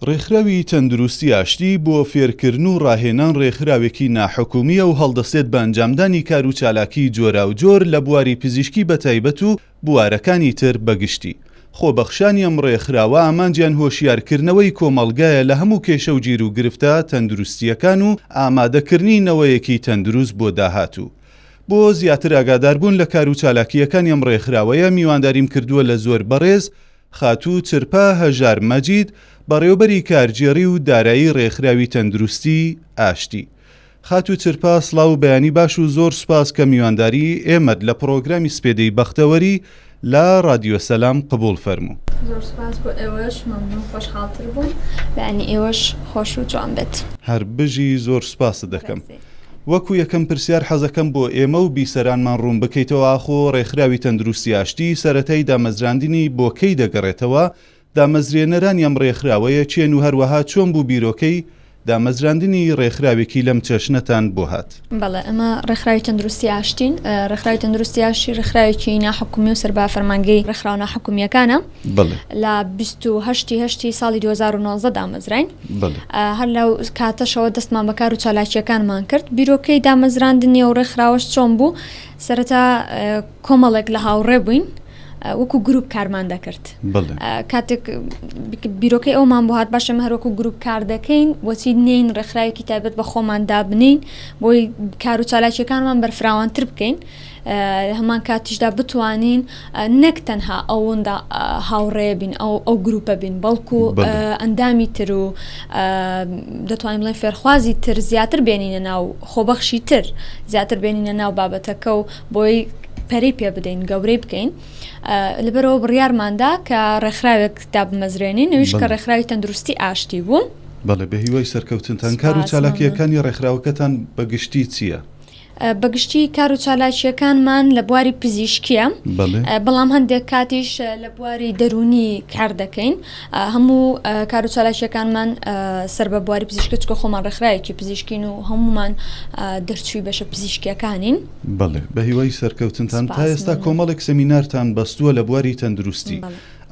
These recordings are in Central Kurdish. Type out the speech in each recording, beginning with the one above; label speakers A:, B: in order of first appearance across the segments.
A: ڕێکخراوی تەندروستی ئاشتی بۆ فێرکردن و ڕاهێنان ڕێکخراوێکی ناحکومییە و هەڵدەسێت بە ئەنجامدانی کار و چالاکی جۆراوجۆر لە بواری پزیشکی بەتایبەت و بوارەکانی تر بەگشتی. خۆبەخشانی ئەم ڕێکخراوە ئامانجیان هۆشیارکردنەوەی کۆمەڵگایە لە هەموو کێشە و گیروگرفتە تەندروستییەکان و ئامادەکردنی نەوەیەکی تەندروست بۆ داهاتوو. بۆ زیاتر ئاگاداربوون لە کار و چالاکییەکانی ئەم ڕێکخراوەیە میوانداریم کردووە لە زۆر بەڕێز، خاتوو چرپە هەژار مەجید، بەڕێوبەری کارگێڕی و دارایی رێکخراوی تەندروستی، ئاشتی. خاتوو چرپە سڵاو و بەیانی باش و زۆر سوپاس کە میوانداری ئێمەت لە پڕۆگرامی سپێدەی بەختەوەری لە رادیۆ سەلام قبوڵ فەرموو. زۆر سوپاس بۆ
B: ئێوەش، مەمنوون خۆشحاڵتر بووم. بەیانی ئێوەش خۆش و جوان بێت. هەر بژی
A: زۆر سوپاست دەکەم. وەکو یەکەم پرسیار حەزەکەم بۆ ئێمە و بیسەرانمان ڕوون بکەیتەوە ئاخۆ ڕێکخراوی تەندروستی ئاشتی سەرەتای دامەزراندنی بۆ کەی دەگەڕێتەوە؟ دامەزرێنەرانی ئەم ڕێکخراوەیە کێن و هەروەها چۆن بوو بیرۆکەی دامەزراندنی ڕێکخراوێکی لەم چەشنەتان بۆ هات؟ بەڵێ ئەمە
B: ڕێکخراوی تەندروستی ئاشتین، ڕێکخراوی تەندروستی ئاشتی ڕێکخراوێکی ناحکومی و سەر بە فەرمانگەی ڕێکخراوە ناحکومییەکانە، لە بیست و هەشتی هەشتی ساڵی 2009 دامەزراین هەر لە کاتەشەوە دەستمان بەکار و چالاکیەکانمان کرد بیرۆکەی دامەزراندنی و ڕێکخراوەش چۆن بوو سەرەتا کۆمەڵێک لە هاوڕێ بووین. وەکو گروپ کارمان دەکرد کاتێک بیرۆکەی ئەومان بۆ هاات باشە هەروەکو گروپ کار دەکەین بۆچی نین ڕێکخراوێکی تایبەت بە خۆمان دابنین بۆی کار و چالاکیەکانمان بەرفراوانتر بکەین لە هەمان کاتیشدا بتوانین نەک تەنها ئەوندا هاوڕێ بین ئەو گروپە بین بەڵکو ئەندامی تر و دەتوانین بڵێن فێرخوازی تر زیاتر بێنینە ناو خۆبەخشی تر زیاتر بێنینە ناو بابەتەکە و بۆی پەری پێ بدەین گەورەی بکەین لەبەرەوە بڕیارماندا کە ڕێکخراوێک دابمەزرێنین نویش کە ڕێکخراوی تەندروستی ئاشتی بوو بەڵێ بە هیوای
A: سەرکەوتنتان کار و چالاکیەکانی ڕێکخراوەکەتان بە گشتی چییە؟ بە گشتی
B: کار و چالاکیەکانمان لە بواری پزیشکیە بەڵام هەندێک کاتیش لە بواری دەرونی کار دەکەین هەموو کار و چالاکیەکانمان سەر بە بواری پزیشکە چکە خۆمان ڕێکخراوێکی پزیشکین و هەمومان دەرچووی بەشە پزیشکیەکانین بڵێ بە
A: هیوای سەرکەوتنتان تا ئێستا کۆمەڵێک سەمینارتان بەستووە لە بواری تەندروستی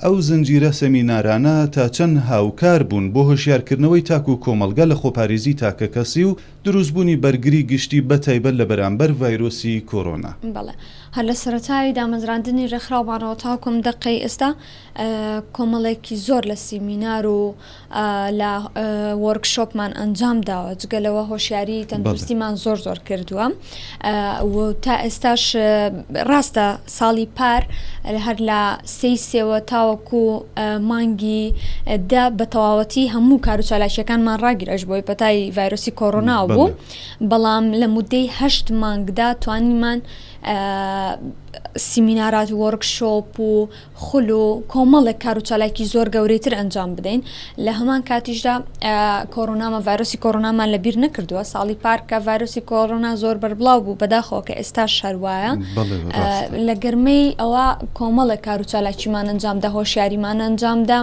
A: ئەو زنجیرە سەمینارانە تا چەند هاوکار بوون بۆ هۆشیارکردنەوەی تاک و کۆمەلگا لە خۆپاریزی تاکە کەسی و دروستبوونی بەرگری گشتی بە تایبەت لە بەرامبەر ڤایرۆسی کۆرۆنا. بەڵێ هەر لە
B: سەرەتای دامەزراندنی ڕێکخراومانەوە تاوەکو ئەم دەقەی ئێستا کۆمەڵێکی زۆر لە سیمینار و لە وۆرک شۆپمان ئەنجام داوە جگە لەوە هۆشیاری تەندروستیمان زۆر زۆر کردووە. و تا ئێستاش ڕاستە ساڵی پار هەر لە سێی سێوە تاوەکو مانگی دە بە تەواوەتی هەموو کار و چالاکیەکانمان ڕاگیرش بۆی پەتای ڤایرۆسی کۆرۆنا بوو بەڵام لە مدەی هەشت مانگدا توانیمان سیمینارات وەرکشۆپ و خول و کۆمەڵێک کار و چالاکی زۆر گەورەی تر ئەنجام بدەین لە هەمان کاتیشدا کۆرۆنامان ڤایرۆسی کۆرۆنامان لە بیر نەکردووە ساڵی پارکە ڤایرۆسی کۆرۆنا زۆر بەربڵاو بوو بەداخەوە کە ئێستا شەروایە لە گەرمەی ئەوە کۆمەڵێک کار و چالاکیمان ئەنجامدا هۆشیاریمان ئەنجامدا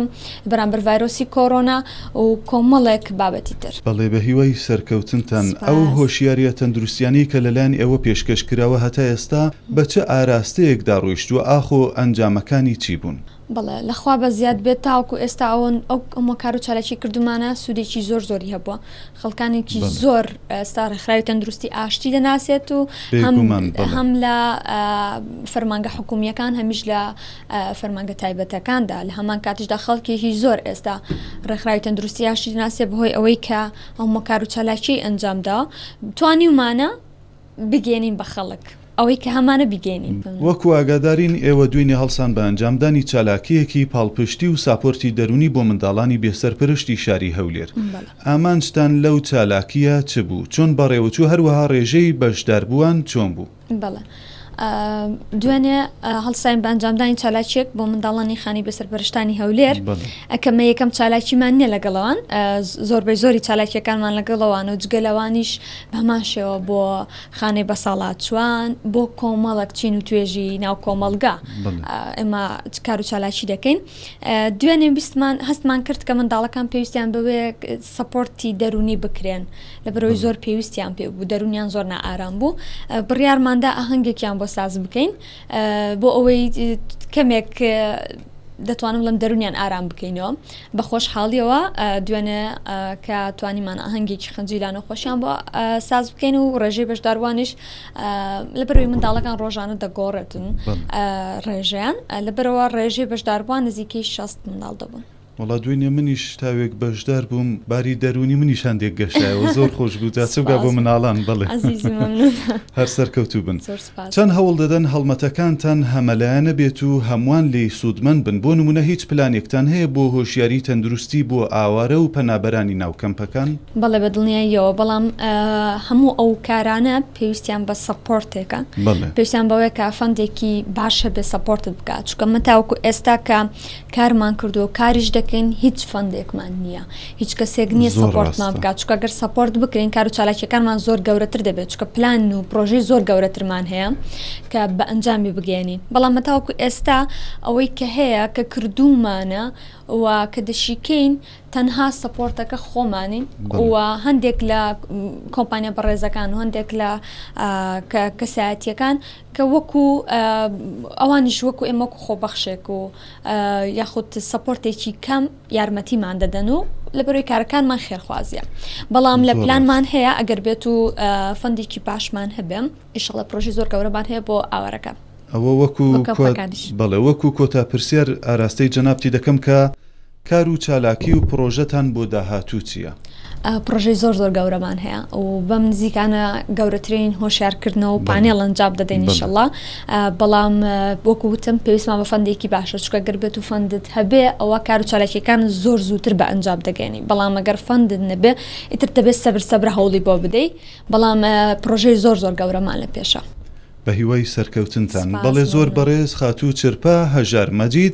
B: بەرامبەر ڤایرۆسی کۆرۆنا و کۆمەڵێک بابەتی تر. بەڵێ بە هیوای
A: سەرکەوتنتان. ئەو هۆشیاریە تەندروستیانەی کە لەلایەن ئێوە پێشکەش کراوە هەتا ئێستا بە چ ئاراستەیەکدا ڕۆیشتووە؟ ئاخۆ ئەنجامەکانی چی بوون؟ بەڵێ، لە خوا بە
B: زیاد بێت تاوەکو ئێستا ئەو هەموو کار و چالاکی کردوومانە سوودێکی زۆر زۆری هەبووە. خەڵکانێکی زۆر ئێستا ڕێکخراوی تەندروستی ئاشتی دەناسێت و هەم لە فەرمانگە حکوومییەکان هەمیش لە فەرمانگە تایبەتەکاندا لە هەمان کاتیشدا خەڵکێکی زۆر ئێستا ڕێکخراوی تەندروستی ئاشتی دەناسێت بەهۆی ئەوەی کە هەموو کار و چالاکی ئەنجامدا توانیومانە بگەینین بە خەڵک ئەوەی کە هەمانە بیگەینین. وەکو ئاگادارین
A: ئێوە دوینێ هەڵسان بە ئەنجامدانی چالاکییەکی پاڵپشتی و ساپۆرتی دەرونی بۆ منداڵانی بێ سەرپەرشتی شاری هەولێر ئامانجتان لەو چالاکییە چ بوو چۆن بەڕێوەچوو هەروەها ڕێژەی بەشداربووان چۆن بوو؟ بەڵێ
B: دوێنێ هەڵساین بە ئەنجامدانی چالاکیەک بۆ منداڵانی خانی بێ سەرپەرشتانی هەولێر ئەکەمە یەکەم چالاکیمان نییە لەگەڵەوان زۆربەی زۆری چالاکیەکانمان لەگەڵەوان و جگەلەوانیش بەهەمان شێوە بۆ خانەی بەساڵاچوان بۆ کۆمەڵک چین و توێژی ناو کۆمەلگا ئێمە کار و چالاکی دەکەین دوێنێ بیستمان هەستمان کرد کە منداڵەکان پێویستیان بەوێ سپۆرتی دەرونی بکرێن لە بەرەوەی زۆر پێویستیان پێ بوو دەرونیان زۆر نائارام بوو بڕیارماندا ئاهەنگێکیان بۆ ساز بکەین بۆ ئەوەی کەمێک دەتوانم لەم دەرونیان ئارام بکەینەوە بە خۆشحاڵیەوە دوێنێ کە توانیمان ئاهەنگێکی خەنجی لانە خۆشیان بۆ ساز بکەین و ڕێژەی بەشداروانیش لە بەروی منداڵەکان ڕۆژانە دەگۆڕێتن ڕێژیان لە بەرەوە ڕێژەی بەشداروان نزیکەی 6 منداڵ دەبوون. وڵا دوێنێ منیش
A: تاوێک بەشدار بووم باری دەرونی منی شاندێک گەشتایەوە زۆر خۆش بوو جاچوگا بۆ مناڵان بڵێ هەر سەرکەوتوو بن چەند هەوڵ دەدەن هەڵمەتەکانتان هەمەلایەنە بێت و هەمووان لێی سوودمەند بن، بۆ نموونە هیچ پلانێکتان هەیە بۆ هۆشیاری تەندروستی بۆ ئاوارە و پەنابەرانی ناو کەمپەکان؟ بەڵێ بە دڵنیاییەوە،
B: بەڵام هەموو ئەو کارانە پێویستیان بە سەپۆرتێکە، پێویستیان بەوەیە کە فەندێکی باش هەبێت سەپۆرتت بکات، چونکە من تاوەکو ئێستا کە. کارمان کردوە و کاریش دەکەین هیچ فەندێکمان نیە هیچ کەسێک نیە سەپۆرتمان بکات چکە گەر سەپۆرت بکرین کار و چالاکیەکانمان زۆر گەورەتر دەبێت چکە پلان و پرۆژەی زۆر گەورەترمان هەیە کە بە ئەنجامی بگەێنین بەڵام مەتاوەکو ئێستا ئەوەی کە هەیە کە کردومانە و کە دەشیکەین تەنها سەپۆرتەکە خۆمانین و هەندێک لە کۆمپانیا بەڕێزەکان و هەندێک لە کەسایەتیەکان کە وەکو ئەوانیش وەکو ئێمە وەکو خۆبەخشێک و یاخود سەپۆرتێکی کەم یارمەتیمان دەدەن و لە بەروی کارەکانمان خێرخوازیە بەڵام لە پلانمان هەیە ئەگەر بێت و فەندێکی پاشمان هەبێم ئیشڵە پرۆژی زۆر گەورەمان هەیە بۆ ئاوارەکە ئەوە وەکو
A: بەڵێ وەکو کۆتا پرسیار ئاراستەی جەنابتی دەکەم کە کار و چالاکی و پڕۆژەتان بۆ داهاتوو چییە؟ پڕۆژەی زۆر
B: زۆر گەورەمان هەیە و بەم نزیکانە گەورەترین هۆشیارکردنەوە و پانێڵ ئەنجام دەدەین ئینشەڵا بەڵام وەکو وتم پێویستمان بە فەندێکی باشە چکە گەر بێت و فەندت هەبێ ئەوە کار و چالاکیەکان زۆر زووتر بە ئەنجام دەگەێنی بەڵام ئەگەر فەندت نەبێ ئیتر دەبێت سەبر سەبرە هەوڵی بۆ بدەیت بەڵام پڕۆژەی زۆر زۆر گەورەمان لە پێشە. بە هیوای
A: سەرکەوتنتان. بەڵێ زۆر بەڕێز خاتوو چرپە هەژار مەجید